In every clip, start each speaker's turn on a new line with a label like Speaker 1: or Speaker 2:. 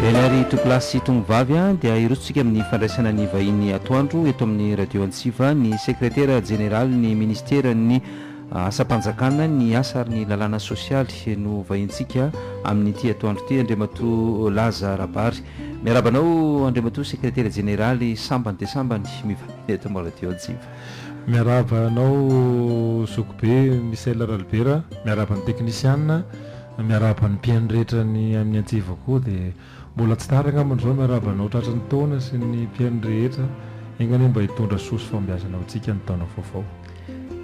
Speaker 1: Eny ary tovolahy sy tongovavy a, dia hirotsontsika amin'ny fandraisana ny vahiny atoandro eto amin'ny Radio Antsiva, ny Sekretera Jeneralin'ny Minisiteran'ny Asam-panjakana, ny Asa ary ny Lalàna Sosialy no vahintsika amin'ity atoandro ity, Andriamatoa Laza Rabary. Miarahaba anao Andriamatoa Sekretera Jeneraly, sambany dia sambany mivahiny eto amin'ny Radio Antsiva. Miarahaba anao zokibe Michel Ralibera, miarahaba ny teknisiana, miarahaba ny mpihaino rehetra ny amin'ny antsiva koa dia mbola tsy tara angambany izao miarahaba anao tratry ny taona sy ny mpihaino rehetra, enga anie mba hitondra soa sy fahombiazana ho antsika ny taona vaovao.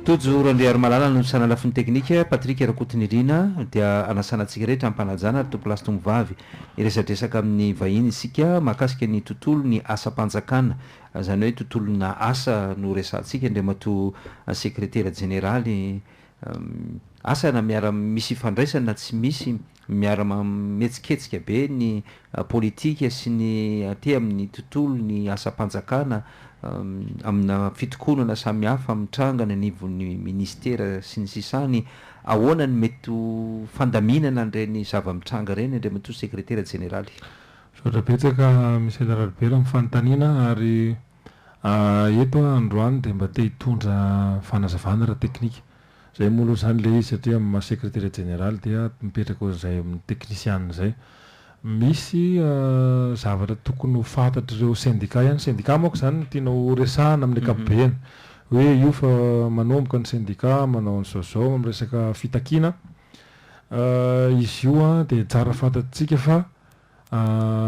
Speaker 1: Tojo Randriarimalala no nisaina lafiny teknika, Patrick Rakotonirina dia anasana antsika rehetra ampanajana ary tompolasy tomovavy, hiresadresaka amin'ny vahiny isika mahakasika ny tontolo ny asam-panjakana Izany hoe tontolona asa no resahantsika Andriamatoa Sekretera Jeneraly. Asa na miara misy ifandraisany na tsy misy, miara mametsiketsika be ny politika sy ny aty amin'ny tontolo ny asam-panjakana amina fitokonana samihafa mitranga any anivon'ny Ministera sy ny sisa any. Ahoana ny mety ho fandaminana an'ireny zava-mitranga ireny Andriamatoa Sekretera Jeneraly? Misaotra betsaka Michel Ralibera amin'ny fanontaniana ary eto aho androany dia mba te hitondra fanazavana ara-teknika. Izay moa aloha izany ilay izy satria amin'ny maha sekretera jeneraly dia mipetraka ohatr'izay amin'ny teknisiana izay. Misy zavatra tokony ho fantatr'ireo sendika ihany, sendika manko izany no tiana ho resahina amin'ny ankapobeny hoe io fa manomboka ny sendika manao an'izao izao amin'ny resaka fitakiana. Izy io dia tsara fantatsika fa.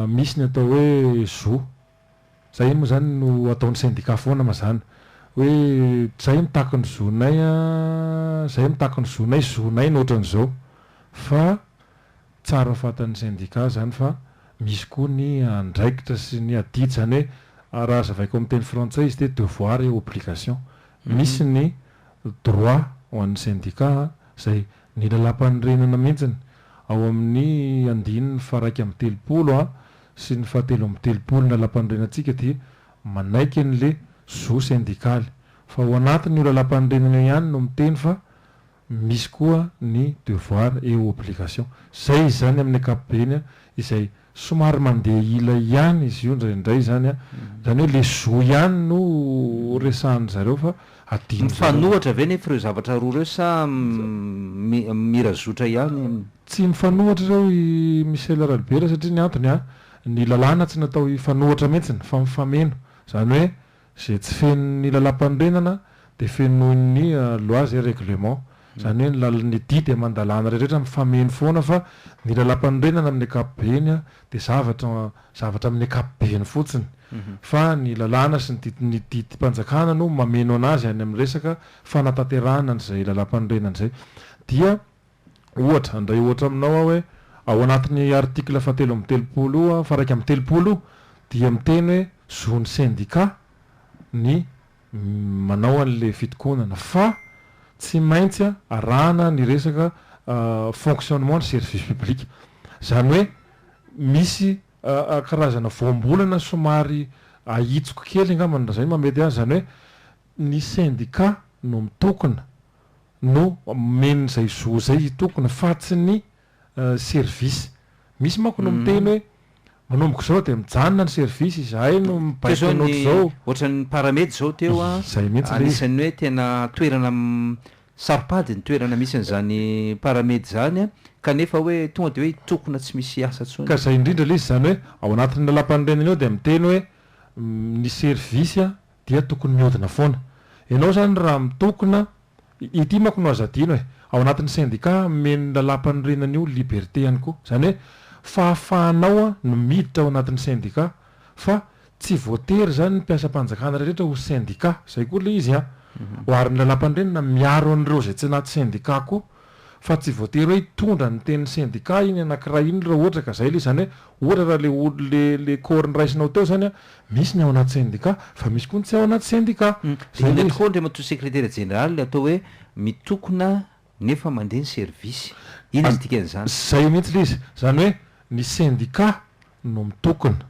Speaker 1: Misy ny atao hoe zo. Zay iny moa zany no ataon'ny sendika foana mazàna. Hoe zay mitaky ny zonay a, zay mitaky ny zonay, zonay no ohatran'izao. Fa tsara ho fantan'ny sendika zany fa misy koa ny andraikitra sy ny adidy. Zany hoe raha azavaiko amin'ny teny frantsay izy dia devoir et obligation. Misy ny droit ho an'ny sendika izay. Ny Lalàmpanorenana mihitsiny, ao amin' ny andininy faha-iraika amby telopolo sy ny fahatelo amby telopolo ny Lalàmpanorenantsika dia manaiky an' ilay zo sendikaly. Fa ao anatin' io Lalàmpanorenana io ihany no miteny fa misy koa ny devoir et obligation. Izay izany amin' ny ankapobeny izay Somary mandeha ila ihany izy io indraindray izany an, izany hoe le zo ihany no resahan-dry zareo fa adino zareo. Mifanohatra ve nefa ireo zavatra roa ireo sa mira zotra ihany? Tsy mifanohatra ireo i Michel Ralibera satria ny antony an, ny lalàna tsy natao hifanohatra mihitsy fa mifameno, izany hoe, Izay tsy feno ny lalam-panorenana dia fenoin' ny lois et règlements. Izany hoe ny lal ny didy aman-dalàna rehetra mifameno foana fa ny lalam-panorenana amin' ny ankapobeny dia zavatra zavatra amin' ny ankapobeny fotsiny fa ny lalàna sy ny didy ny didim-panjakana no mameno an' azy any amin' ny resaka fanatanterahana an' izay lalam-panorenana izay dia Ohatra, handray ohatra aminao aho hoe, ao anatin'ny article fahatelo amby telopolo faraika amby telopolo dia miteny hoe zon'ny sendika ny manao an'ilay fitokonana fa tsy maintsy arahana ny resaka fonctionnement ny service public. Izany hoe misy karazana voambolana somary ahitsiko kely angambany raha izay no mahamety azy, izany hoe ny sendika no mitokona no omeny izay zo izay hitokona fa tsy ny service. Misy manko no miteny hoe manomboka izao dia mijanona ny service, izahay no mibaiko anao izao. Ohatran'ny Paramed izao teo an, anisan'ny hoe tena toerana saro-pady ny toerana misy an'izany Paramed izany an, kanefa hoe tonga dia hoe hitokona tsy misy asa intsony. Ka izay indrindra ilay izy izany hoe ao anatin'ny lalàmpanorenana eo dia miteny hoe ny service Dia tokony miodina foana. Ianao izany raha mitokona, ity manko no aza adino e, ao anatin'ny sendika omeny ny lalam-panorenana io liberté ihany koa. Izany hoe fahafahanao no miditra ao anatin'ny sendika fa tsy voatery izany ny mpiasam-panjakana rehetra ho sendika. Izay koa ilay izy an! Oharin'ny lalam-panorenana miaro an'ireo izay tsy anaty sendika koa. fa tsy voatery hoe hitondra ny tenin'ny sendika iny anankiray iny raha ohatra ka izay ilay izy, izany hoe ohatra raha ilay olo, ilay, ilay corps noraisnao teo izany an, misy ny ao anaty sendika fa misy koa ny tsy ao anaty sendika. Dia inona tokoa Andriamatoa Sekretera Jeneraly ny atao hoe mitokona nefa mandeha ny service? Inona ny dikan'izany? Izay mihitsy ilay izy, izany hoe ny sendika no mitokona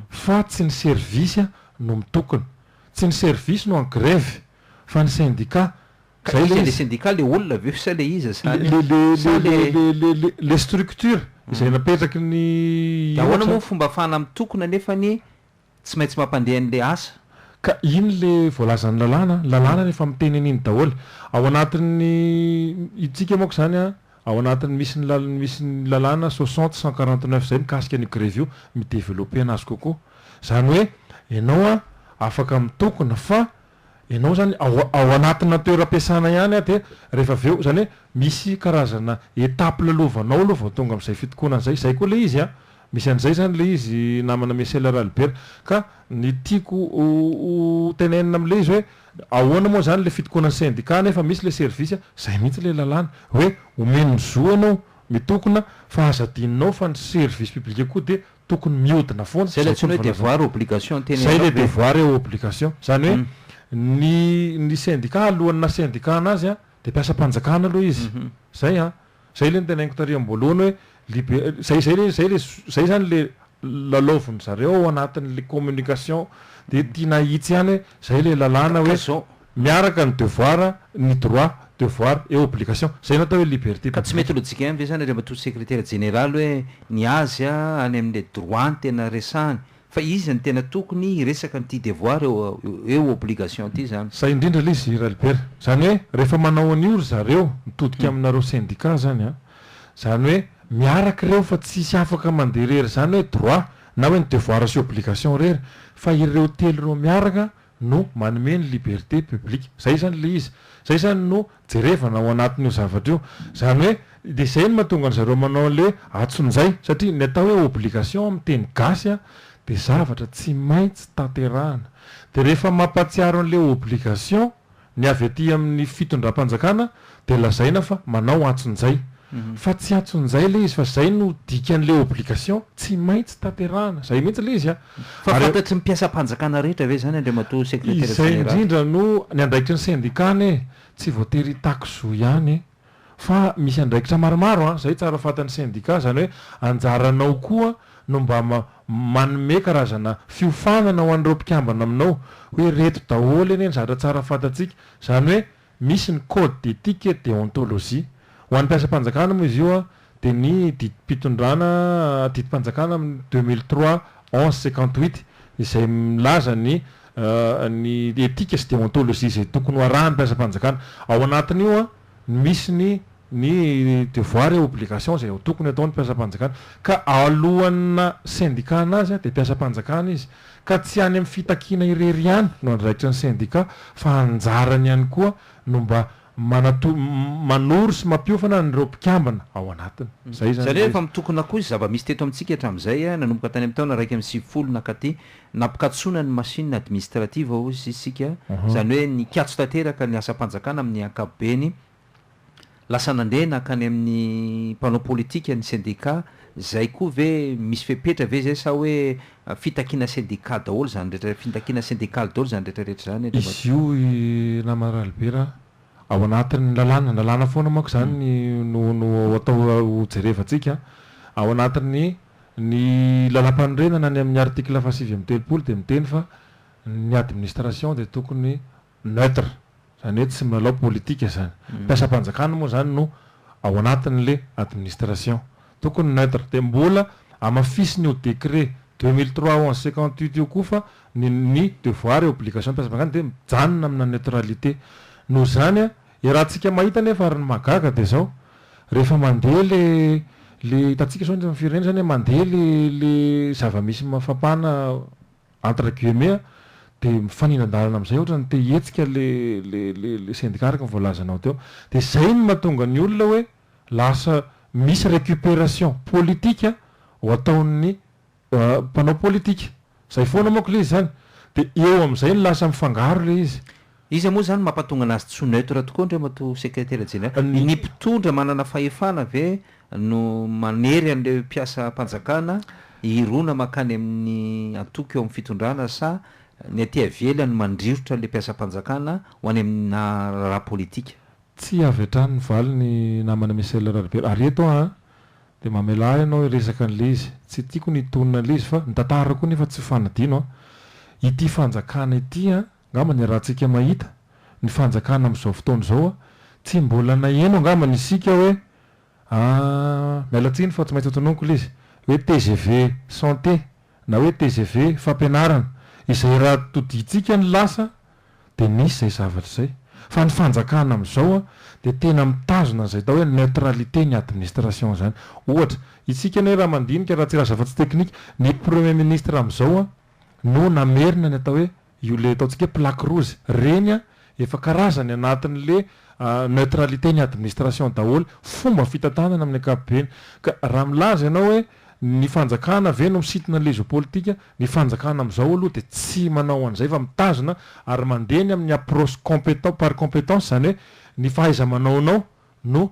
Speaker 1: fa tsy ny service no mitokona, tsy ny service no en grève fa ny sendika. Ka iza ilay sendika, ilay olona ve sa ilay iza sa ilay ilay structure izay napetraky ny inona? Dia ahoana moa ny fomba afahana mitokona nefany tsy maintsy mampandeha an'ilay asa? Ka iny ilay voalazan'ny lalàna, ny lalàna efa miteny an'iny daholo. Ao anatin'ny isika manko izany an, ao anatin'ny misy ny lal- misy ny lalàna soixante cent quarante neuf izay mikasika an'io grevy io, mi-developper anazy kokoa. Izany hoe ianao an afaka mitokona fa Ianao izany ao ao anatina toeram-piasana ihany an, dia rehefa avy eo, izany hoe misy karazana étape lalovanao aloha vao tonga amin'izay fitokonana izay. Izay koa ilay izy an! Misy an'izay izany ilay izy namana Michel Ralibera. Ka ny tiako ho ho tenenina amin'ilay izy hoe ahoana moa izany ilay fitokonan'ny sendika nefa misy ilay service, izay mihitsy ilay lalàna. Hoe omeny ny zo ianao mitokona fa aza adinonao fa ny service public koa dia tokony miodina foana Zay ilay antsoina hoe devoir obligation teny Zay ilay devoir et obligation izany hoe ny ny syndicat alohan'ny naha syndicat anazy a dia mpiasam-panjakana aloha izy izay a izay ilay notenainiko tary am-boalohany hoe libe izay izay ilay izay ilay izay izany ilay lalaovin'zareo ao anatin'ilay communication dia tiana hahitsy ihany hoe izay ilay lalàna hoe Miaraka ny devoir, ny droit, devoir et obligation. Izay no atao hoe liberté Ka tsy mety publique. logique ve izany ry Ramatoa Sekretera Jeneraly hoe ny azy any amin'ilay droit no tena resahany fa izy no tena tokony hiresaka an'ity devoir et obligation ity izany? Zay indrindra ilay izy Ralibera. Izany hoe rehefa manao an'io ry zareo mitodika aminareo syndicat izany an, izany hoe miaraka ireo fa tsy hisy afaka mandeha irery izany hoe droit na hoe ny devoir sy obligation irery fa ireo telo ireo miaraka no manome ny liberté publique. Izay izany ilay izy. Izay izany no jerevana ao anatin'io zavatra io. Izany hoe, dia izay no mahatonga an-dry zareo manao an'ilay atsonjay. Satria ny atao hoe obligation amin'ny teny gasy dia zavatra tsy maintsy tanterahana. Dia rehefa mampahatsiaro an'ilay obligation, Ny avy aty amin'ny fitondram-panjakana dia lazaina fa manao antsonjay. Fa tsy antsonjay ilay izy fa izay no dikan'ilay obligation, tsy maintsy tanterahana. Izay mihitsy ilay izy an! Fa fantatry ny mpiasam-panjakana rehetra ve izany Andriamatoa Sekretera Jeneraly? Izay indrindra no ny andraikitry ny sendikana e! Tsy voatery hitaky zo ihany e! Fa misy andraikitra maromaro an, izay tsara fantan'ny sendika, izany hoe anjaranao koa no mba manome karazana fiofanana ho an'ireo mpikambana aminao, hoe ireto daholo anie ny zavatra tsara fantatsika, izany hoe misy ny code d'éthique et déontologie. Ho an'ny mpiasam-panjakana moa izy io an, Dia ny didim-pitondrana, didim-panjakana amin'ny deux mille trois onze cinquante huit izay milaza ny ny etika sy deontologie izay tokony ho arahin'ny mpiasam-panjakana. Ao anatin'io no misy ny ny devoir et obligation izay tokony hataon'ny mpiasam-panjakana. Ka alohan'ny sendikana azy dia mpiasam-panjakana izy. Ka tsy any amin'ny fitakiana irery ihany no andraikitry ny sendika fa anjarany ihany koa no mba manato, manoro sy mampiofana an'ireo mpikambana ao anatiny. Izay izany Izany hoe efa mitokona koa izay zava-misy teto amintsika hatramin'izay, nanomboka tany amin'ny taona iraika amby sivifolo nankaty, nampikatsoana ny machine administrative hoy isika, izany hoe nikatso tanteraka ny asam-panjakana amin'ny ankapobeny, lasa nandeha nankany amin'ny mpanao politika, ny sendika, izay koa ve misy fepetra ve izay sa hoe Fitakiana sendika daholo izany rehetra, fintakiana sendikaly daholo izany rehetra rehetra izany ry Izy io i namana Ralibera ao anatin'ny lalàna, lalàna foana manko izany no no atao ho jerevantsika, ao anatin'ny ny lalampanorenana ny amin'ny article fahasivy amby telopolo dia miteny fa ny administration dia tokony neutre, izany hoe tsy milalao politika izany. Mpiasam-panjakana moa izany no ao anatin'ilay administration. Tokony neutre. Dia mbola hamafisina io décret deux mille trois onze cinquante huit io koa fa ny ny devoir et obligation mpiasam-panjakana dia mijanona amina neutralité. Noho izany an, iarahantsika mahita nefa ary ny mahagaga dia izao, rehefa mandeha ilay ilay hitantsika izao ny firenena izany an, mandeha ilay ilay zava-misy mafampana, entre guillemets, dia mifanila-dalana amin'izay ohatra ny te hihetsika ilay sendika araka ny voalazanao teo. Dia izay no mahatonga ny olona hoe lasa misy récupération politique ho ataon'ny mpanao politika. Izay foana manko ilay izy izany. Dia eo amin'izay no lasa mifangaro ilay izy. Iza moa izany mampatonga anazy tsy ho neutre tokoa Andriamatoa Sekretera Jeneraly? Ny mpitondra manana fahefana ve no manery an'ireo mpiasam-panjakana hirona mankany amin'ny antoko eo amin'ny fitondrana sa ny aty ivelany mandrirotra ilay mpiasam-panjakana ho any amina raharaha politika? Tsy avy hatrany mivaly ny namana Michel Raribera. Ary eto aho dia mamelà ahy ianao hiresaka an'ilay izy. Tsy tiako ny hitonona an'ilay izy fa ny tantara koa nefa tsy ho fanadino. Ity fanjakana ity Angamba ny ratsika mahita ny fanjakana amin'izao fotoana izao, tsy mbola naheno angamba ny isika hoe aah miala tsiny fa tsy maintsy hotononiko ilay izy hoe tgv santé na hoe tgv fampianarana izay raha todintsika ny lasa dia nisy izay zavatra izay fa ny fanjakana amin'izao dia tena mitazona an'izay atao hoe neutralité ny administration izany ohatra isika anie raha mandinika raha tsy lasa afa-tsy teknika ny premier ministre amin'izao no namerina ny atao hoe io le ataontsika hoe plaque rouge reny a efa karazany anatin'ny le neutralité ny administration daholo fomba fitantanana amin'ny ankapobeny ka raha milaza ianao hoe ny fanjakana ve no misintona an'ilay izy politika ny fanjakana amin'izao aloha dia tsy manao an'izay fa mitazona ary mandeha ny amin'ny approche compétent par compétence izany hoe ny fahaiza-manaonao no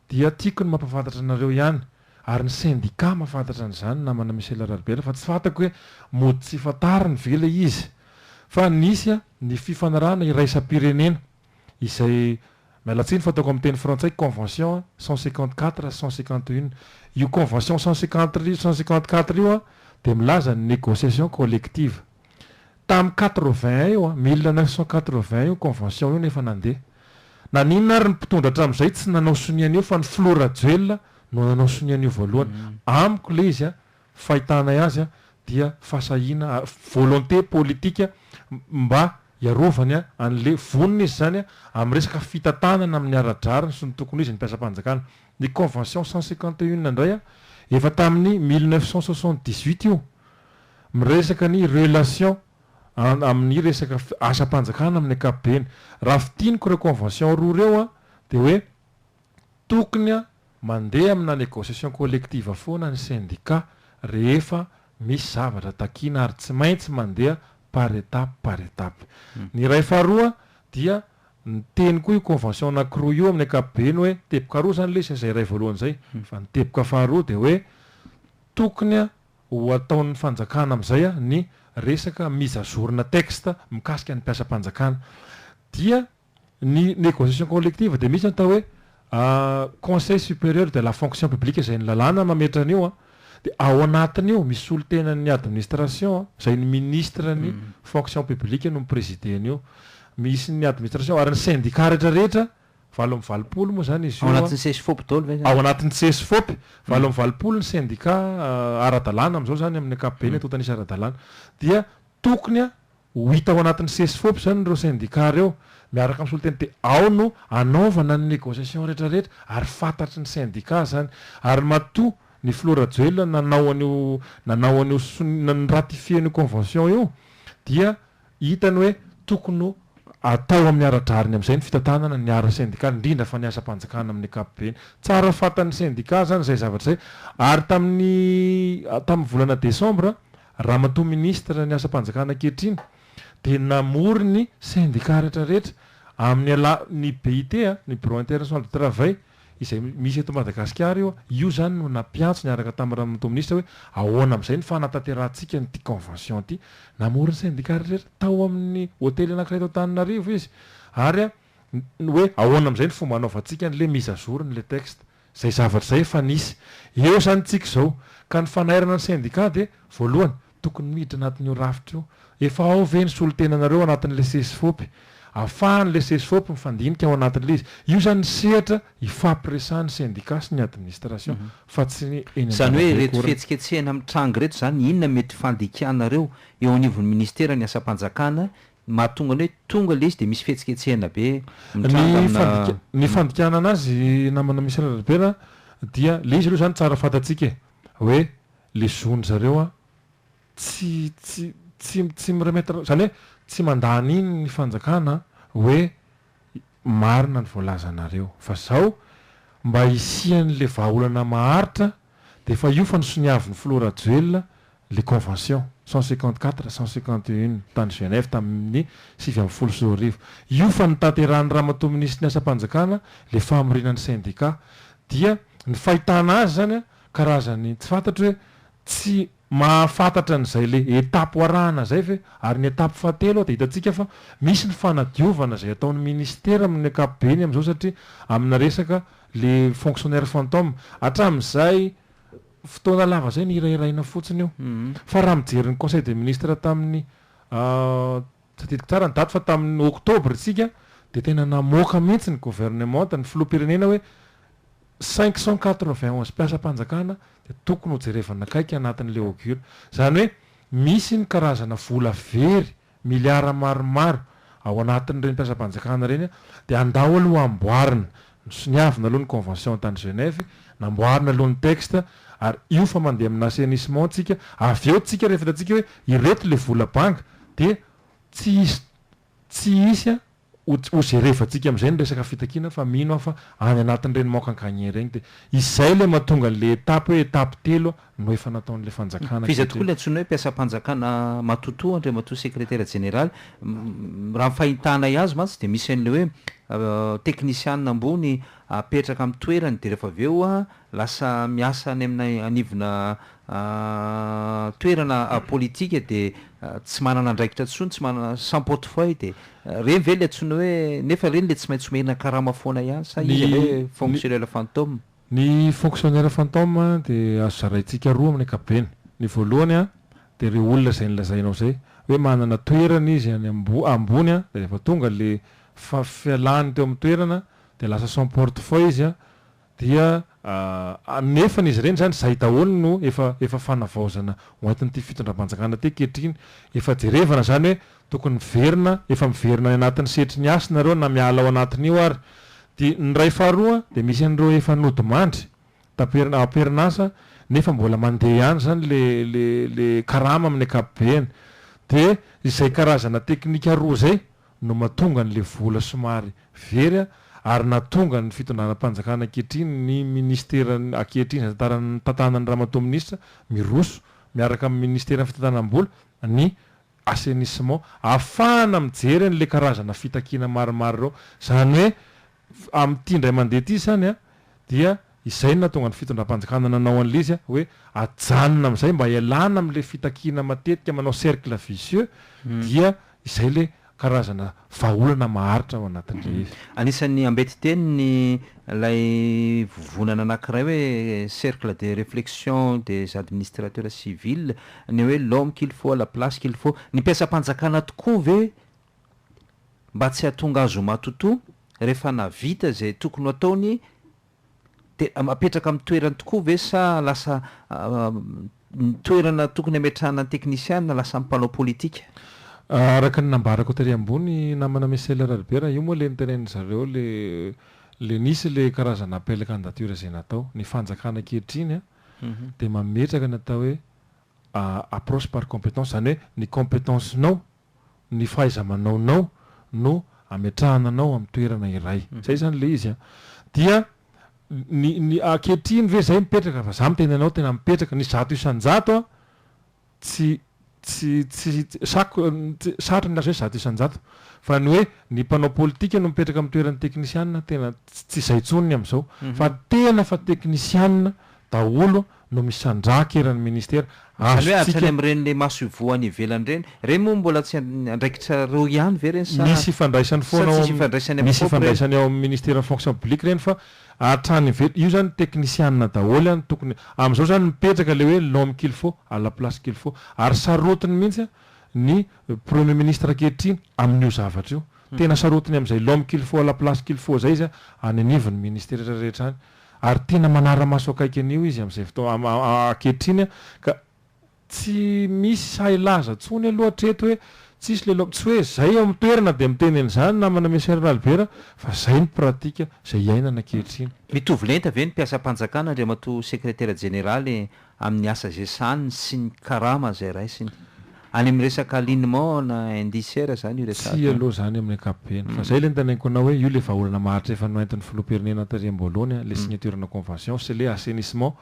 Speaker 1: Dia tiako ny mampafantatra anareo ihany, ary ny sendika mahafantatra an'izany namana Michel Ralbert fa tsy fantako hoe mody tsy fantariny ve ilay izy fa nisy ny fifanarahana iraisam-pirenena izay, miala tsiny fataoko amin'ny teny frantsay, convention cent cinquante quatre cent cinquante une, io convention cent cinquante quatre io dia milaza ny négociation collective. Tamin'ny quatre-vingts io, mille neuf cent quatre-vingts io convention io no efa nandeha. Naninona ary ny mpitondra hatramin'izay tsy nanao sonia an'io fa ny filoha Rajoelina no nanao sonia an'io voalohany. Amiko ilay izy, fahitanay azy dia fahasahiana, volonté politika mba hiarovany an'ilay vonona izy izany amin'ny resaka fitantanana amin'ny ara-drariny sy ny tokony ho izy ny mpiasam-panjakana. Ny convention cent cinquante et une indray efa tamin'ny mille neuf cent soixante-dix-huit io. Miresaka ny relation an amin'ny resaka asam-panjakana amin'ny ankapobeny. Raha fintiniko ireo convention roa ireo an, dia hoe tokony an mandeha amina negociation collective foana ny syndicat rehefa misy zavatra takiana ary tsy maintsy mandeha par étape par étape. Ny iray faharoa dia niteny koa io convention anankiroa io amin'ny ankapobeny hoe teboka roa izany ilay izy fa izay iray voalohany izay fa ny teboka faharoa dia hoe tokony an Ho ataon'ny fanjakana amin'izay ny resaka mise à jour na texte mikasika ny mpiasam-panjakana. Dia ny négociation collective dia misy ny atao hoe conseil supérieur de la fonction publique izay ny lalàna mametra an'io. Dia ao anatin'io misy solontenan'ny administration izay ny ministran'ny fonction publique no mi-presider an'io. Misy ny administration ary ny syndicat rehetra rehetra valo amby valopolo moa izany izy io. Ao anatin'ny Cesfop daholo ve izany? Ao anatin'ny Cesfop, valo amby valopolo ny sendika ara-dalàna amin'izao izany amin'ny ankapobeny eto an-tanisa ara-dalàna. Dia tokony ho hita ao anatin'ny Cesfop izany ireo sendika ireo miaraka amin'ny solontena dia ao no anaovana ny négociation rehetra rehetra ary fantatry ny sendika izany. Ary matoa ny filoha Rajoelina nanao an'io nanao an'io sonia ny-ratifier an'io convention io dia Hitany hoe tokony ho atao amin'ny ara-drariny amin'izay ny fitantanana ny ara-sendikaly, indrindra fa ny asam-panjakana amin'ny ankapobeny. Tsara fantan'ny sendika izany izay zavatra izay ary tamin'ny tamin'ny volana desambra, Ramatoa Minisitra ny asam-panjakana ankehitriny dia namory ny sendika rehetrarehetra amin'ny alalan'ny BIT, ny Bureau International du Travail, izay misy eto Madagasikara io, io izany no nampiantso niaraka tamin'ny Ranomato Minisitra hoe ahoana amin'izay ny fanatanterahantsika an'ity convention ity. Namory ny sendika rehetra tao amin'ny hotely anankiray eto Antananarivo izy ary ny hoe ahoana amin'izay ny fomba hanaovantsika an'ilay mise à jour n'ilay texte. Izay zavatra izay efa nisy. Eo izany tsika izao. Ka ny fanairana ny sendika dia voalohany, tokony miditra anatin'io rafitra io. Efa ao ve ny solontenanareo ao anatin'ilay sesifop? Ahafahan'ilay sesifop mifandinika ao anatin'ilay izy. Io izany ny sehatra ifampiresahan'ny sendika sy ny administration fa tsy eny an-dalambe akory. Izany hoe ireto fihetsiketsehana mitranga ireto izany inona no mety fandikanareo eo anivon'ny ministeran'ny asam-panjakana mahatonga ny hoe tonga ilay izy dia misy fihetsiketsehana be mitranga amina. Ny fandikana anazy namana Michel Albert dia ilay izy aloha izany tsara fantatsika e, hoe le zony zareo an tsy tsy tsy tsy mi remettre zany hoe tsy mandany iny ny fanjakana hoe marina ny voalazanareo fa zao mba hisian le vahaolana maharitra de efa io fa nisoniavin'ny filoha rajoelina le convention cent cinquante quatre cent cinquante et une tany Genève tamin'ny sivy ambin'ny folo sy roa arivo io fa nitanterahan'i ramatoa minisitry ny asam-panjakana le famoriana ny syndicat dia ny fahitana azy zany an Karazany tsy fantatro hoe tsy mahafantatra an'izay le etape arahana zay ve? Ary ny etape fahatelo a de hitantsika fa misy ny fanadiovana zay ataon'ny ministera amin'ny ankapobeny amzao satria amina resaka le fonctionnaire fantôme. Hatramin'izay fotoana lava zay nihirahiraina fotsiny io. Fa raha mijery ny conseil des ministres tamin'ny Tadidiko tsara ny daty fa tamin'ny oktobra isika dia tena namoaka mihitsy ny governemanta, ny filoham-pirenena hoe cinq cent quatre-vingt-onze mpiasam-panjakana dia tokony ho jerevana akaiky anatin'ilay augure. Izany hoe misy ny karazana vola very miliara maromaro ao anatin'ireny mpiasam-panjakana ireny dia andao aloha amboarina Nosoniavina aloha ny convention tany Genève, namboarina aloha ny texte ary io fa mandeha amina assainissement tsika, avy eo tsika rehefa hitantsika hoe ireto le vola banga dia tsy hisy tsy hisy a ho ho gerevantsika amizay ny resaka fitakiana fa mino aho fa any anatin'ireny manque en gagner ireny dia izay le mahatonga an'le étape hoe étape telo no efa nataon'ilay fanjakana Fa iza teto tokoa ilay antsoina hoe mpiasam-panjakana matotoa Andriamatoa Sekretera Jeneraly? Raha ny fahintanay azy mantsy dia misy an'ilay hoe teknisiana ambony apetraka amin'ny toerany dia rehefa avy eo lasa miasa any amin'ny anivona toerana politika dia tsy manana andraikitra intsony, tsy manana, sans portefeuille dia ireny ve ilay antsoina hoe, nefa ireny ilay tsy maintsy omerina karama foana ihany sa iza ilay hoe Ny fonctionnaire fantôme? Ny fonctionnaire fantôme dia azo zaraintsika roa amin'ny ankapobeny. Ny voalohany dia ireo olona izay nolazainao izay hoe manana toerana izy any ambony dia rehefa tonga ilay fialany teo amin'ny toerana dia lasa sans porte foy izy dia nefa izy ireny izany izay daholo no efa efa fanavaozana ho entin'ity fitondram-panjakana ity ankehitriny. Efa jerevana izany hoe Tokony miverina, efa miverina any anatin'ny setry ny hasy nareo na miala ao anatin'io ary. Dia ny iray faharoa dia misy an'ireo efa nodimandry taper- am-perinasa nefa mbola mandeha ihany izany le le le karama amin'ny ankapobeny. Dia izay karazana teknika roa izay no mahatonga an'ilay vola somary very a, ary nahatonga ny fitondranam-panjakana ankehitriny, ny ministera ankehitriny izay tantaran- tantanan'i Ramatoa Minisitra miroso miaraka amin'ny ministeran'ny fitantanam-bola ny assainissement, ahafahana mijery an'ilay karazana fitakiana maromaro ireo. Izany hoe, amin'ity indray mandeha ity izany an, dia izay no nahatonga ny fitondram-panjakana nanao an'ilay izy hoe ajanona amin'izay mba hialana amin'ilay fitakiana matetika manao cercle vicieux, dia izay ilay karazana Vahaolana maharitra ao anatin'ny rehetra. Anisan'ny ambetin-teny ny ilay vovonana anankiray hoe Cercle de réflexion des administrateurs civils, ny hoe l'homme qu'il faut à la place qu'il faut. Ny mpiasam-panjakana tokoa ve mba tsy hahatonga azy ho matotoa rehefa nahavita izay tokony ho ataony? Dia apetraka amin'ny toerany tokoa ve sa lasa ny toerana tokony hametrahana ny teknisiana lasa ny mpanao politika? Araka ny nambarako tery ambony namana Michel Ralibera, io moa ilay notenenin-dry zareo ilay nisy ilay karazana appel candidature izay natao. Ny fanjakana ankehitriny dia mametraka ny atao hoe approche par compétence, izany hoe ny compétence-nao ny fahaiza-manaonao no ametrahana anao amin'ny toerana iray. Zay zany le izy an! Dia ny ny ankehitriny ve zay mipetraka fa za miteny anao tena mipetraka ny zato isan-jato an! tsy tsy tsy sako sarotra ny milaza hoe zato isan-jato fa ny hoe ny mpanao politika no mipetraka amin'ny toeran'ny teknisiana tena tsy zay intsony ny amin'izao fa tena fa teknisiana daholo no misandrahaka eran'ny ministera, Izany hoe hatrany azontsika. amin'ireny le maso ivoho any ivelany ireny, ireny moa mbola tsy andraikitra roa ihany ve ireny sa Misy ifandraisany sa foana ao tsisy amin'ny, ifandraisany amin'ny misy COP ireny? ifandraisany ao amin'ny ministeran'ny fonction publique ireny fa hatrany ivelany, io izany teknisianina daholo ihany tokony, amin'izao izany mipetraka ilay hoe l'homme qu'il faut à la place qu'il faut, ary sarotiny mihitsy ny premier ministre ankehitriny amin'io zavatra io, tena sarotiny amin'izay l'homme qu'il faut à la place qu'il faut izay izy any anivon'ny ministera rehetra rehetra any, Ary tena manara-maso akaiky an'io izy amin'izay fotoana ankehitriny ka tsy misy sahy laza intsony aloha hatreto hoe tsisy le lom-, tsy hoe izay eo amin'ny toerana dia miteny an'izany namana Messier Ralibera fa izay ny pratika izay iainana ankehitriny. Mitovy lenta ve ny mpiasam-panjakana Andriamatoa Sekretera Jeneraly amin'ny asa izay sahaniny sy ny karama izay raisiny. Any amin'ny resaka alignement na indicera izany io resahako io. Tsia aloha izany amin'ny ankapobeny. Fa izay ilay notanaiko anao hoe io ilay vahaolana maharitra efa noentin'ny filoham-pirenena taty am-boalohany ilay signeturena convention sy ilay assainissement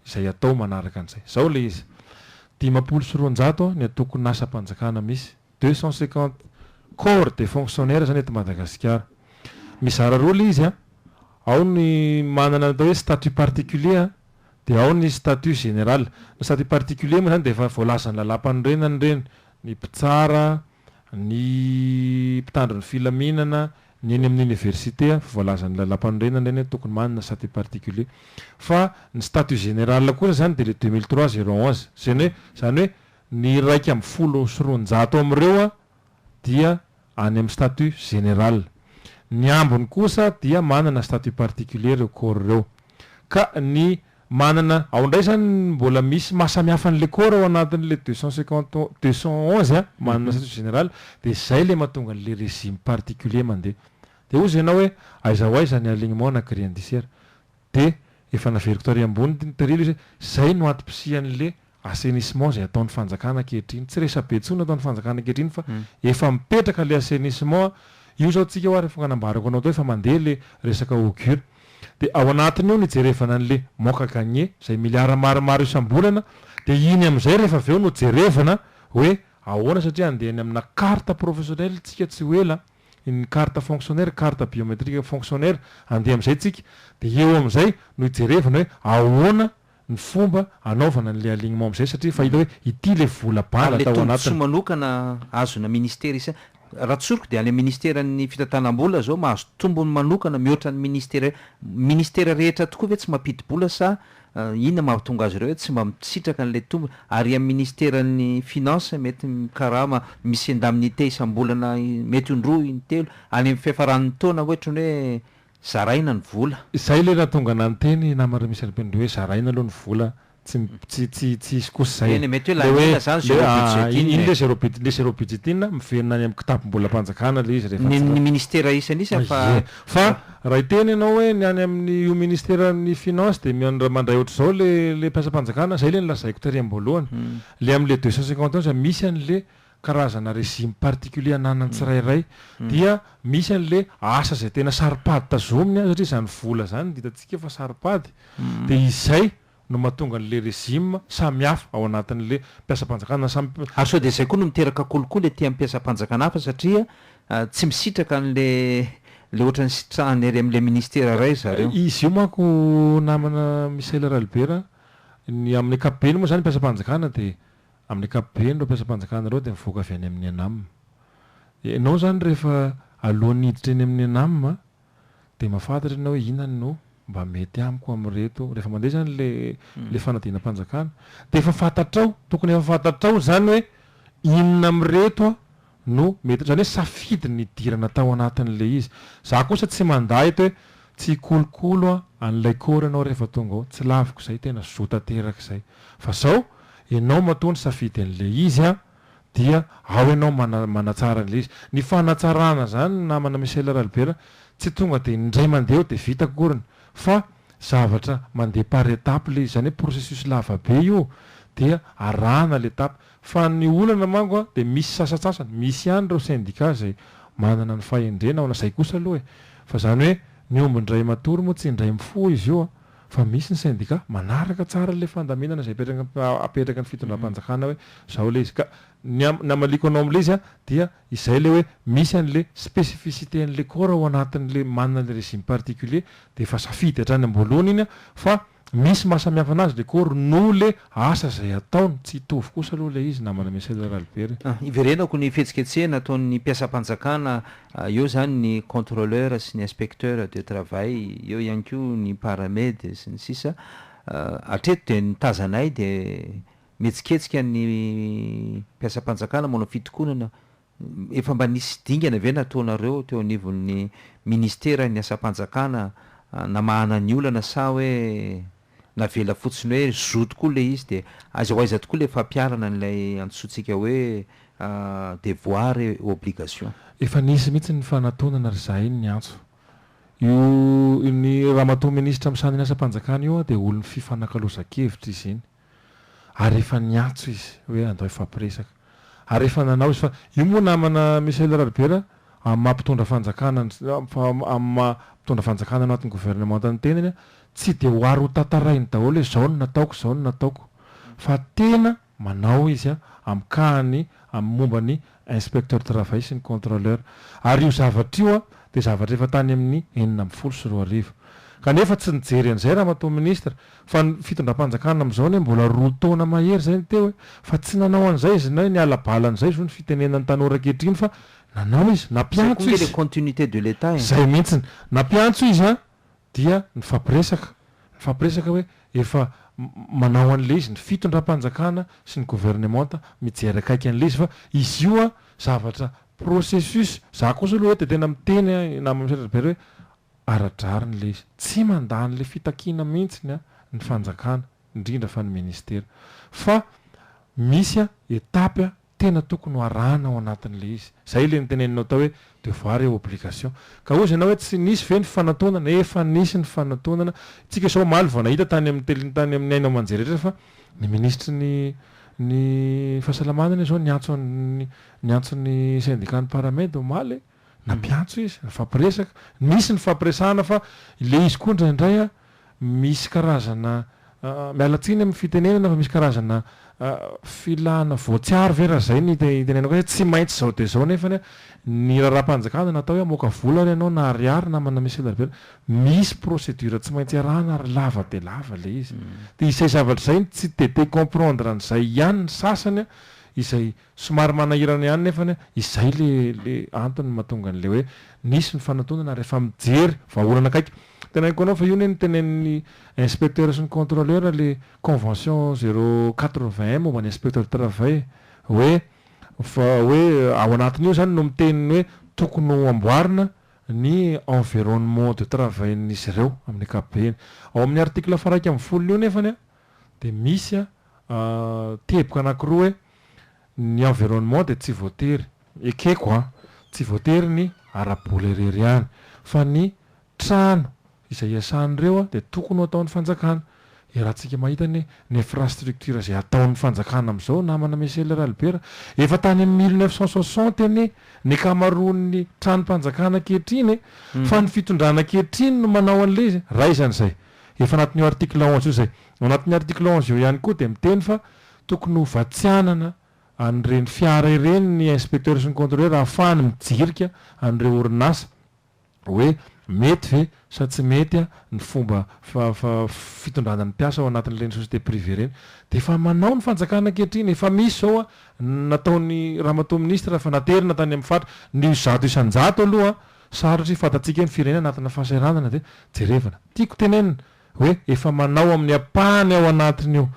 Speaker 1: izay atao manaraka an'izay. Izao ilay izy, dimampolo sy roanjato ny antokon'asam-panjakana misy. Deux cent cinquante corps de fonctionnaires zany eto Madagasikara. Mizara roa le izy an, ao ny manana ny atao hoe statut particulier an, dia ao ny statut general. Ny statut particulier moa zany dia efa voalazan'ny lalampanorenana ireny, ny mpitsara, ny mpitandro ny filaminana, ny eny amin'ny université an, voalazan'ny lalampanorenana ireny hoe tokony manana statut particulier. Fa ny statut general kosa zany dia le deux mille trois zéro onze, zany hoe zany hoe Ny iraika ambin'ny folo sy roanjato amin'ireo dia any amin'ny statut général. Ny ambiny kosa dia manana statut particulier ireo corps ireo. Ka ny manana, ao indray izany mbola misy maha samihafa an'ilay corps ao anatin'ilay deux cent cinquante deux cent onze manana statut général, dia izay ilay mahatonga an'ilay régime particulier mandeha. Dia hozy ianao hoe aiza ho aiza ny alignement na grille indiciaire. Dia efa naveriko tary ambony ity nitariha ilay izy hoe izay no antom-pisian'ilay assainissement izay ataon'ny fanjakana ankehitriny. Tsy resabe intsony ataon'ny fanjakana ankehitriny fa efa mipetraka ilay assainissement. Io izao tsika ho'a rehefa nanambarako anao teo efa mandeha ilay resaka Hogur. Dia ao anatin'io no ijerevana an'ilay manque à gagner izay milliards maromaro isam-bolana. Dia iny amin'izay rehefa avy eo no jerevana hoe ahoana satria andeha any amina carte professionnelle tsika tsy ho ela. ny carte fonctionnaire, carte biométrique fonctionnaire, andeha amin'izay tsika, dia eo amin'izay no ijerevana hoe ahoana ny fomba anaovana an'ilay alignement amin'izay satria efa hita hoe ity ilay vola bala tao anatiny. Ary ilay tombontsoa manokana azona ministera isa, raha tsoriko dia any amin'ny ministeran'ny fitantanam-bola izao mahazo tombony manokana mihoatra ny ministera, ministera rehetra tokoa ve tsy mampidi-bola sa Inona mahatonga azy ireo hoe tsy mba misitraka an'ilay tombony? Ary amin'ny ministeran'ny finances mety mikarama misy indemnité isam-bolana mety ho indroa intelo any amin'ny fiafaran'ny taona hoe ohatran'ny hoe zaraina ny vola. Izay ilay nahatonga anah niteny namana Remy Cherubin-Dry hoe zaraina aloha ny vola, tsy tsy tsy tsy hisy kosa izay. Eny e, mety hoe laniana izany zero budget iny e. Iny ilay zero budget, ilay zero budget iny miverina any amin'ny kitapom-bolam-panjakana ilay izy rehefa tsy. Ny ny ministera isan'isany fa. Ie. Fa. Raha hiteny ianao hoe ny any amin'ny io ministeran'ny finance dia miandra mandray ohatr'izao ilay ilay mpiasam-panjakana, izay ilay nolazaiko tery am-boalohany. Ilay amin'ilay deux cent cinquante ans misy an'ilay karazana régime particulier ananan'ny tsirairay. Dia misy an'ilay asa izay tena saro-pady tazominy an, satria izany vola izany dia hitantsika fa saro-pady. Dia izay no mahatonga an'ilay régime samy hafa ao anatin'ilay mpiasam-panjakana samy. Ary sao dia izay koa no miteraka kolikoly aty amin'ny mpiasam-panjakana hafa satria tsy misitraka an'ilay ilay ohatran'ny nisitrahany ery amin'ilay ministera iray ry zareo. Izy io manko namana Michael Ralibera a, ny amin'ny ankapobeny moa izany mpiasam-panjakana dia amin'ny ankapobeny ireo mpiasam-panjakana ireo dia mivoaka avy any amin'ny ENAM. Ianao izany rehefa alohan'ny hiditra eny amin'ny ENAM dia mahafantatra ianao hoe inona no mba mety amiko amin'ireto, rehefa mandeha izany ilay ilay fanadinam-panjakana dia efa fantatrao, tokony efa fantatrao izany hoe inona amin'ireto no mety, izany hoe safidy ny hidirana tao anatin'ilay izy. Izaho kosa tsy mandà eto hoe tsy hikolokolo an'ilay kôro ianao rehefa tonga ao, tsy laviko izay, tena zo tanteraka izay. Fa izao, ianao matoa nisafidy an'ilay izy an! dia ao ianao mana manatsara an'ilay izy. Ny fanatsarana izany namana Michel Ralibera tsy tonga dia indray mandeha eo dia vita akoriny fa zavatra mandeha par étape ilay izy. Izany hoe processus lava be io dia arahana ilay étape. Fa ny olana manko a dia misy sasatsasany, misy ihany ireo syndicat izay manana ny fahendrena ao na izay kosa aloha e! Fa izany hoe ny omby indray matory moa tsy indray mifoha izy io a! Fa misy ny syndicat manaraka tsara ilay fandaminana izay apetraky ny fitondram-panjakana hoe izao ilay izy. Ka ny hamaliako anao amin'ilay izy dia izay ilay hoe misy an'ilay spécificité an'ilay corps ao anatin'ilay manana ilay régime particulier dia efa safidy hatrany am-boalohany iny fa misy maha samihafa anazy ilay corps noho ilay Asa izay ataony, tsy hitovy kosa aloha ilay izy namana Michel Ralibert. Hiverenako ny fihetsiketsehana ataon'ny mpiasam-panjakana eo izany ny controleur sy ny inspecteur de travail, eo ihany koa ny paramed sy ny sisa Hatreto dia ny tazanay dia mihetsiketsika ny mpiasam-panjakana manao fitokonana Efa mba nisy dingana ve nataonareo teo anivon'ny Ministeran'ny Asam-panjakana namahana ny olana sa hoe navela fotsiny hoe zo tokoa ilay izy dia aiza ho aiza tokoa ilay fampiharana an'ilay antsointsika hoe devoir et obligation? Efa nisy mihitsy ny fanatonana ry zahay ny antso. Io ny Ramatoa Minisitra misanin'ny Asam-panjakana io dia olon'ny fifanakalozan-kevitra izy iny. ary efa niantso izy hoe andao hifampiresaka ary efa nanao izy fa io moa namana Michel Raribera amin'ny maha mpitondra fanjakana amin'ny maha mpitondra fanjakana ao anatin'ny gouvernementa ny tenany a tsy dia ho ary ho tantarainy daholo hoe zao no nataoko zao no nataoko fa tena manao izy a amin'ny kahany amin'ny momba ny Inspecteur de travail sy ny controleur. Ary io zavatra io dia zavatra efa tany amin'ny enina ambin'ny folo sy roa arivo. Kanefa tsy nijery an'izay Ramatoa Ministra, fa ny fitondram-panjakana amin'izao anie mbola roa taona mahery izay no teo e! Fa tsy nanao an'izay izy na niala bala an'izay zo ny fitenenan'ny tanora ankehitriny fa nanao izy, nampiantso izy. Izay koa ange le continuité de l'Etat e! Izay mihitsiny. Nampiantso izy an! dia nifampiresaka, nifampiresaka hoe efa manao an'ilay izy ny fitondram-panjakana sy ny governemanta mijery akaiky an'ilay izy fa izy io an zavatra processus, za kosa aloha dia tena miteny an i namako Misaotra Robert hoe ara-drariny ilay izy, tsy mandà an'ilay fitakiana mihitsy an ny fanjakana indrindra fa ny ministera fa misy an etapy an tena tokony ho arahana ao anatin'ilay izy. Izay ilay noteneninao tao hoe devoir et obligation. Ka hozy ianao hoe tsy nisy ve ny fanantonana? Efa nisy ny fanantonana. Isika izao omaly vao nahita tany amin'ny tele, tany amin'ny haino aman-jery rehetra fa ny minisitry ny ny fahasalamana anie izao niantso an'ny niantso ny syndicat-n'ny Paramed omaly e! Nampiantso izy, nifampiresaka, nisy nifampiresahana fa ilay izy koa indraindray an, misy karazana, miala tsiny amin'ny fitenenana fa misy karazana filana voatsiary ve raha zay ny itenenako hoe tsy maintsy zao dia zao nefany an, ny raharaham-panjakana natao hoe hamoaka vola ary ianao na ariary na manome selabe, misy procédure tsy maintsy arahana ary lava dia lava ilay izy. Dia izay zavatra izay no tsy dia te-hi-comprendre an'izay ihany ny sasany an, izay Somary manahirana ihany nefany a, izay le le antony mahatonga an'le hoe nisy ny fanatonana ary efa mijery vahaolana akaiky. Tenaiko anao fa io anie no tenenin'ny inspecteur sy ny controleur le convention zero quatre vingt un momba ny inspecteur du travail hoe fa hoe ao anatin'io zany no miteny ny hoe tokony ho amboarina ny environnement de travail-n'izy ireo amin'ny ankapobeny. Ao amin'ny article faha iraika ambin'ny folo-n'io nefany a dia misy a teboka anankiroa hoe Ny environnement dia tsy voatery, ekeko an, tsy voatery ny ara-bola irery ihany fa ny trano izay iasan'ireo dia tokony ho ataon'ny fanjakana. Iarahantsika mahita ny infrastructure izay ataon'ny fanjakana amin'izao namana Michel Ralibera. Efa tany amin'ny mille neuf cent soixante anie ny ankamaroan'ny tranom-panjakana ankehitriny e! Fa ny fitondrana ankehitriny no manao an'ilay izy. Raisina izay. Efa anatin'io article onze io izay. Ao anatin'ny article onze io ihany koa dia miteny fa Tokony ho vatsianana an'ireny fiara ireny ny inspecteur sy ny controleur ahafahany mijirika an'ireo orinasa hoe mety ve sa tsy mety ny fomba fitondrana ny mpiasa ao anatin'ireny société privée ireny. Dia efa manao ny fanjakana ankehitriny, efa misy izao ny nataon'i ramatoa ministra fa naterina tany amin'ny fatra. Ny zato isan-jato aloha sarotra hifantatsika hoe ny firenena anatina fahasahiranana ve? Jerevana. Tiako tenenina hoe efa manao amin'ny ampahany ao anatin'io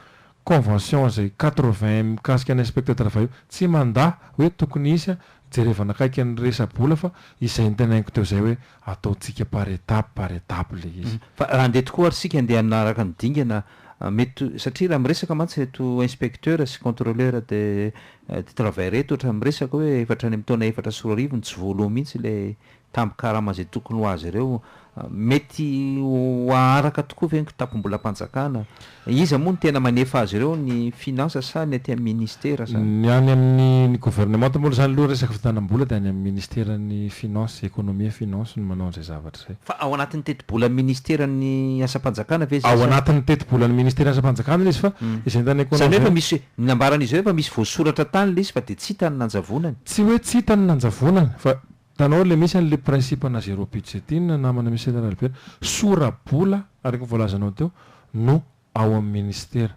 Speaker 1: convention izay quatre-vingts mikasika ny inspecteur travail io, tsy mandà hoe tokony hisy an, jerevana akaiky ny resa-bola fa izay notenainiko teo izay hoe ataontsika par étape par étape ilay izy. Fa raha handeha tokoa ary isika handeha hanaraka ny dingana mety satria raha miresaka mantsy ireto inspecteur sy controleur de de travail ireto ohatra miresaka hoe efatra any amin'ny taona efatra sy roa arivo no tsy voaloha mihitsy ilay tambin-karama izay tokony ho azy ireo. Mety ho haharaka tokoa ve ny kitapom-bolam-panjakana? Iza moa no tena manefa azy ireo, ny Finances sa ny aty amin'ny Ministera sa? Ny any amin'ny ny Governemanta moa izany aloha resaka fitanam-bola dia any amin'ny Ministeran'ny Finances, Economie et Finances no manao an'izay zavatra izay. Fa ao anatin'ny tetibolan'ny Ministeran'ny Asam-panjakana ve izay sa? Ao anatin'ny tetibolan'ny Ministeran'ny Asam-panjakana ilay izy fa izay entanay Izany hoe efa misy, ny nambaran'izy ireo efa misy voasoratra tany ilay izy fa dia tsy hita ny nanjavonany. Tsy hoe tsy hita ny nanjavonany fa Hitanao ilay misy an'ilay principe-na zéro but zay ty ny namana misy eto Analibela. Sora-bola, araka ny voalazanao teo, no ao amin'ny ministera.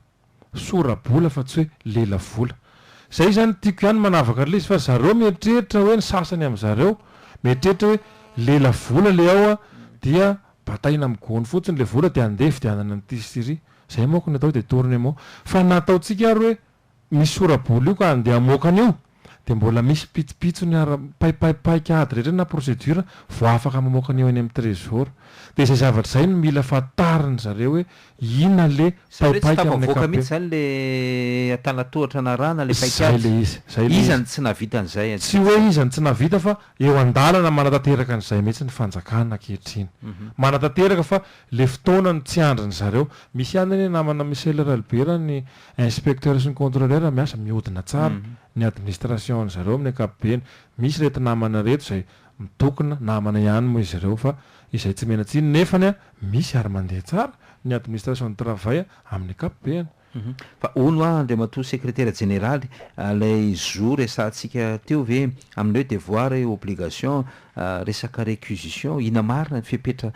Speaker 1: Sora-bola fa tsy hoe lelavola. Izay izany no tiako ihany manavaka an'ilay izy fa ry zareo mieritreritra hoe ny sasany amin'zareo mieritreritra hoe lelavola ilay ao dia bataina amin'ny gony fotsiny ilay vola dia andeha hividianana an'ity sy iry. Izay manko ny atao hoe detournement. Fa ny nataontsika ary hoe misy sora-bola io ka andeha hamoaka an'io dia mbola misy pitsopitsony ara, paipai, paik'ady rehetra na procédure vao afaka mamoaka an'io eny amin'ny trésor. Dia izay zavatra izay no mila fantarin-dry zareo hoe inona le Izany hoe tsy paipaika amin'ny tafavoaka mihitsy ankapobeny. izany le antanan-tohatra narahana le Izay paik'ady. le izy, izay le Iza izy. no tsy nahavita an'izay Tsy hoe ankehitriny? iza no tsy nahavita fa eo an-dalana manatanteraka an'izay mihitsy ny fanjakana ankehitriny. Manatanteraka fa le fotoana no tsy andrin'ry zareo. Misy ihany anie namana Michel Ralbera ny Inspecteur sy ny controleur miasa mihodina tsara ny administration ny zareo amin'ny ankapobeny, misy reto namana reto izay mitokona, namana ihany moa izy ireo fa izay tsy mena tsiny nefany misy ary mandeha tsara ny administration du travail amin'ny ankapobeny. Fa hono hoa Andriamatoa Sekretera Jeneraly, ilay zo resahantsika teo ve Amin'ny hoe devoir et obligation, resaka récusition, inona marina ny fepetra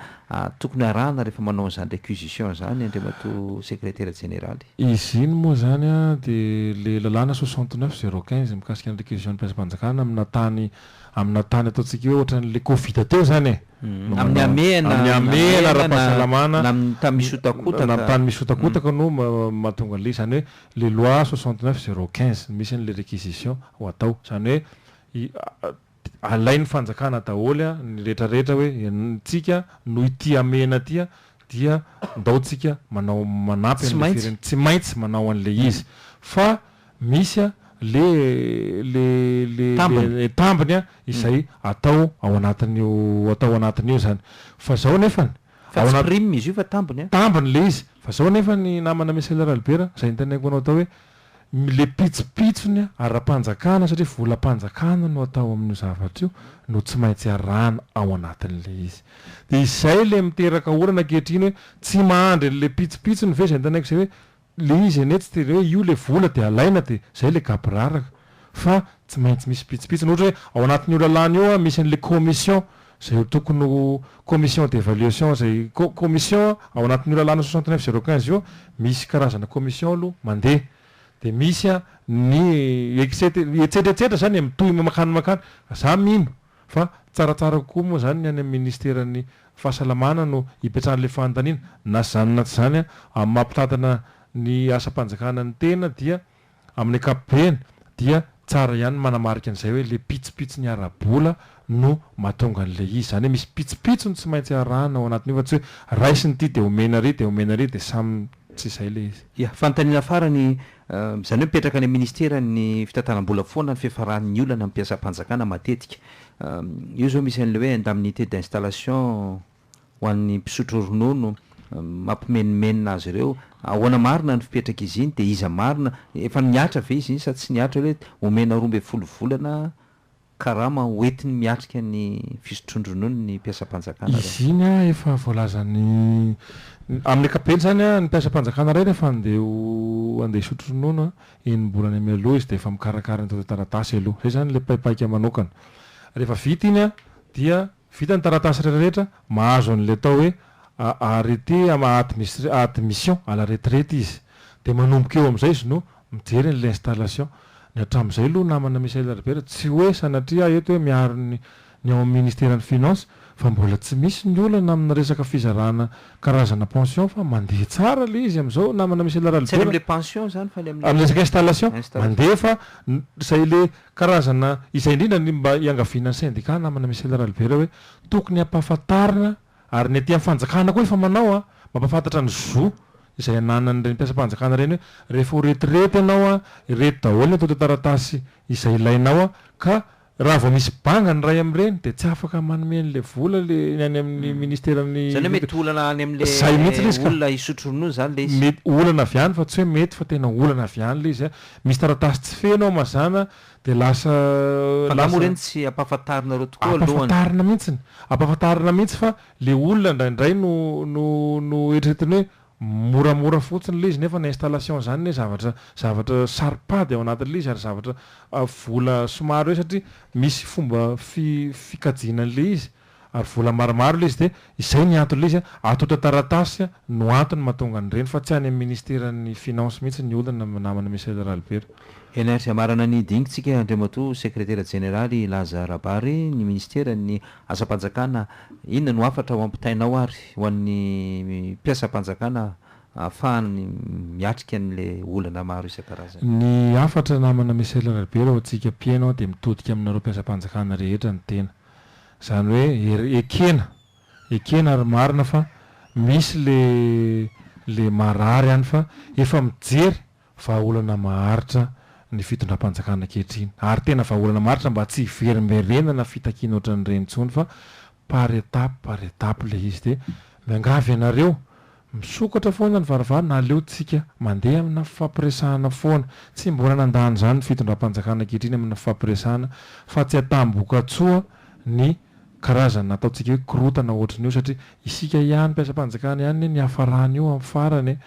Speaker 1: tokony arahana rehefa manao an'izany récusition izany Andriamatoa Sekretera Jeneraly? Izy iny moa izany dia ilay lalàna soixante neuf zéro quinze mikasika ny récusion ny mpiasam-panjakana amina tany amina tany ataontsika hoe ohatran'ny ilay covid teo izany e, no manao an'izany. Amin'ny hamehana, Amin'ny hamehana ara-pahasalamana na amin'ny tany misotakotaka. Na amin'ny tany misotakotaka no mahatonga an'ilay izy. Izany hoe. le loi soixante neuf zéro quinze misy an'ilay réquisition ho atao, izany hoe i alain'ny fanjakana daholo ny rehetra rehetra hoe antsika noho ity hamehana ity dia ndao tsika manao manampy Tsy an'ilay maintsy. firenena tsy maintsy manao an'ilay izy fa misy le le le Tambiny. le tambiny izay atao ao anatin'io atao anatin'io izany fa izao nefany Fa tsy prime izy io fa tambiny an. Tambiny ilay izy. Fa zao nefa ny namana Micheal Ralibera, izay notaniako anao tao hoe, ilay pitsopitsony ara-panjakana satria volam-panjakana no atao amin'io zavatra io no tsy maintsy arahana ao anatin'ilay izy. Dia izay ilay miteraka olana ankehitriny hoe, tsy mahandry an'ilay pitsopitsony ve izay notaniako izay hoe, Le izy anie tsy tere hoe io le vola de alaina de zay le gaboraraka fa tsy maintsy misy pitsopitsony ohatra hoe ao anatin' io lalàna io a misy an'le commission zay ho tokony ho commission d'evaluation zay ko commission ao anatin'io lalàna soixante neuf zero quinze io misy karazana commission aloha mande de misy a ny etset- etsetretsetra zany e mitohy mankany mankany za mino Fa tsaratsara kokoa moa izany ny any amin'ny Ministeran'ny Fahasalamana no ipetrahan'ilay fanontaniana. Na izany na tsy izany, amin'ny maha mpitantana ny asam-panjakana ny tena dia amin'ny ankapobeny dia tsara ihany ny manamarika an'izay hoe ilay pitsopitsony ara-bola no mahatonga an'ilay izy. Izany hoe misy pitsopitsony tsy maintsy arahana ao anatin'io fa tsy hoe raisiny ity dia omena ary dia omena ary dia samy tsy izay ilay izy. Ia, fanontaniana farany Izany hoe mipetraka any amin'ny Ministeran'ny fitantanam-bola foana ny fiafaran'ny olana amin'ny mpiasam-panjakana matetika. Io izao misy an'ilay hoe indemnité d'installation ho an'ny mpisotro ronono, mampimenomenona azy ireo. Ahoana marina ny fipetrak'izy iny dia iza marina? Efa nihatra ve izy iny sa tsy nihatra hoe omena roa ambin'ny folo volana karama hoentiny miatrika ny fisotroan-dronono ny mpiasam-panjakana raha. Izy iny an, efa voalazan'ny, amin'ny ankapobeny izany an, ny mpiasam-panjakana iray rehefa handeha ho, handeha hisotro ronono an, enim-bolana mialoha izy dia efa mikarakara ny taratasy aloha. Izay izany ilay paipaika manokana. Rehefa vita iny an, dia. Vita ny taratasy rehetrarehetra, mahazo an'ilay atao hoe arrêté admission à la retraite izy. Dia manomboka eo amin'izay izy no mijery an'ilay installation. Ny hatramin'izay aloha namana Michael Herbert, tsy hoe sanatria aho eto hoe miaro ny ny ao amin'ny Ministeran'ny Finances, fa mbola tsy misy ny olana amin'ny resaka fizarana karazana pension fa mandeha tsara ilay izy amin'izao namana Michael Herbert a. Tsy any amin'ilay pension izany fa any amin'ilay. Amin'ny resaka installation, mandeha fa izay ilay Karazana izay indrindra ny mba iangaviana ny sendika namana Michel Ralibera hoe tokony hampahafantarina ary ny aty amin'ny fanjakana koa efa manao an, mampahafantatra ny zo izay ananan'ireny mpiasam-panjakana ireny hoe rehefa ho retirety ianao an, ireto daholo ny antontan-taratasy izay ilainao an, ka raha vao misy banga ny iray amin'ireny dia tsy afaka manome an'ilay vola ilay ny any amin'ny ministeran'ny. Izany hoe mety olana any Izay mihitsy amin'ilay ilay izy ka. olona hisotro ronono izany ilay izy. Mety olana avy any fa tsy hoe mety fa tena olana avy any ilay izy an, Misy taratasy tsy feno ao mazàna dia lasa Fa angaha moa lasa ireny tsy ampahafantarinareo tokoa alohany? Ampahafantarina mihitsiny, ampahafantarina mihitsy fa le olona indraindray no no no eritreretiny hoe moramora fotsiny le izy nefa ny installation zany anie zavatra zavatra saro-pady ao anatin' le izy ary zavatra vola somary hoe satria misy fomba fi fikajiana an'le izy. Ary vola maromaro ilay izy dia izay ny antony ilay izy a! Ato otra taratasy no antony mahatonga an'ireny fa tsy any amin'ny ministeran'ny finances mihitsy ny olana namana Michel Ralibera. Henay fiamarana ny dingintsika Andriamatoa Sekretera Jeneraly Laza Rabary, ny Ministeran'ny Asam-panjakana inona no hafatra ho ampitainao ary ho an'ny mpiasam-panjakana ahafahany miatrika an'ilay olana maro isan-karazany? Ny hafatra namana Michel Ralibera ho antsika mpieno dia mitodika aminareo mpiasam-panjakana rehetra ny tena. Izany hoe er ekena, ekena ary marina fa misy le le marary any fa efa mijery vahaolana maharitra ny fitondram-panjakana ankehitriny ary tena vahaolana maharitra mba tsy hiverimberenana fitakiana ohatran'ireny intsony fa par étape par étape ilay izy dia miangavy anareo Misokatra foana ny varavarana aleo tsika mandeha amina fifampiresahana foana. Tsy mbola nandà an'izany ny fitondram-panjakana ankehitriny amina fifampiresahana fa tsy atam-bokatsoa ny karazana ataontsika hoe korotana ohatrin'io satria isika ihany mpiasam-panjakana ihany anie niafaran'io amin'ny farany e!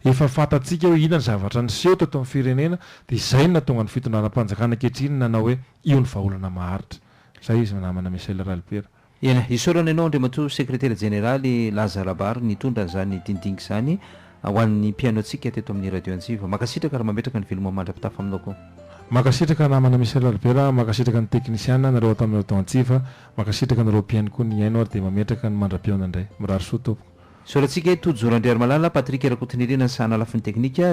Speaker 1: Efa fantatsika hoe inona ny zavatra niseho teto amin'ny firenena dia izay no nahatonga ny fitondranam-panjakana ankehitriny nanao hoe io ny vahaolana maharitra. Izay izy namana Michel Ralibera. Eny, isaorana ianao Andriamatoa Sekretera Jeneraly Laza Rabary nitondra an'izany dindinka izany ho an'ny mpihaino antsika teto amin'ny Radio Antsiva. Mankasitraka ary mametraka ny veloma mandra-pitafa aminao koa. Mankasitraka namana Michel Albert, mankasitraka ny teknisiana, anareo ato amin'ny Radio Antsiva, mankasitraka anareo mpihaino koa nihaino ary dia mametraka ny mandra-pihaona indray. Mirary soa tompoko. Isaorantsika i Tojo Randriarimalala, Patrick Rakotonirina ny sahana lafiny teknika.